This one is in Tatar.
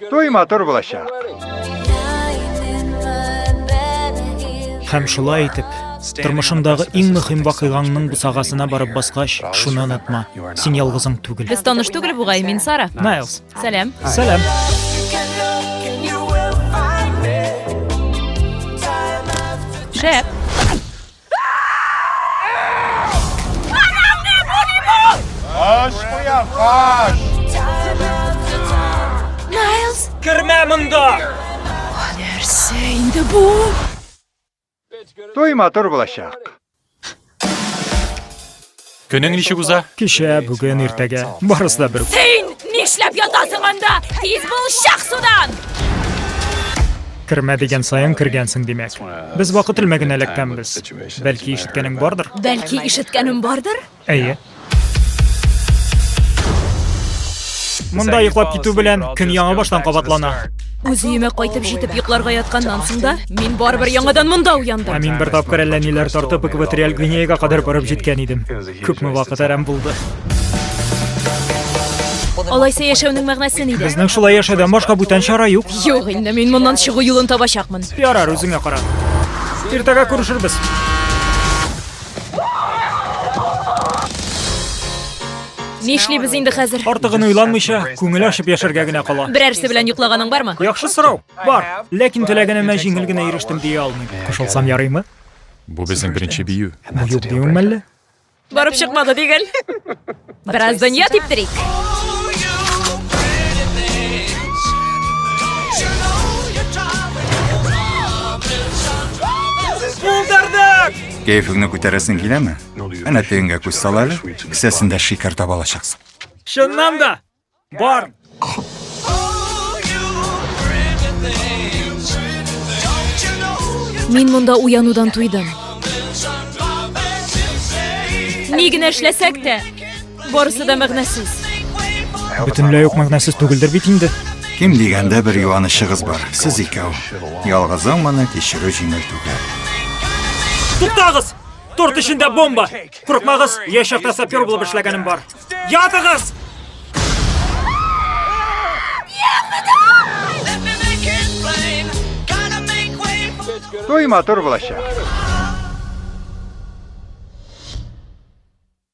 Туй матур булачак. Һәм шулай итеп, Тормышыңдагы иң мөһим вакыйгаңның бусагасына барып баскач, шуны онытма. Син ялгызың түгел. Без таныш түгел бугай, мин Сара. Найлс. Сәлам. Сәлам. Шәп. Аш куя, аш! Найлз! Кермә монда! Нәрсә инде бу? Той матур булачак. Көнең ничек уза? Кичә, бүген, иртәгә. Барысы да бер. Син нишләп ятасың анда? Тиз бул, чак судан! Кермә дигән саен кергәнсең, димәк. Без вакыт элмәген эләккәнбез. Бәлки ишеткәнең бардыр? Бәлки ишеткәнем бардыр? Әйе. Монда йоклап китү белән көн яңа баштан кабатлана. Үз өемә кайтып җитеп йокларга ятканнан соң да, мин барыбер яңадан монда уяндым. Ә мин бер тапкыр әллә ниләр тартып экваториаль Гвинеяга кадәр барып җиткән идем. Күпме вакыт әрәм булды. Алайса яшәүнең мәгънәсе нидә? Безнең шулай яшәүдән башка бүтән чара юк. Юк инде, мин моннан чыгу юлын табачакмын. Ярар, үзеңә кара. Иртәгә күрешербез. Нишлибез инде хәзер? Артыгын уйланмыйча, күңел ачып яшәргә генә кала. Берәрсе белән йоклаганың бармы? Яхшы сорау. Бар. Ләкин теләгенемә җиңел генә ирештем дия алмыйм. Кушылсам ярыймы? Бу безнең беренче бию. Бу юк диюең мәллә? Барып чыкмады дигел. Бераз дөнья типтерик. Булдырдык! Кәефеңне күтәрәсең киләме? Әнә тегенгә күз сал әле, кесәсендә шикәр таба алачаксың. Чыннан да! Бар! Мин монда уянудан туйдым. Ни генә эшләсәк тә, барысы да мәгънәсез. Бөтенләй юк мәгънәсез түгелдер бит инде. Кем дигәндә бер юанычыгыз бар, сез икәү. Ялгызың моны кичерү җиңел түгел. Туктагыз! Торт эчендә бомба! Курыкмагыз, яшь чакта сапер булып эшләгәнем бар. Ятыгыз! Туй матур булачак.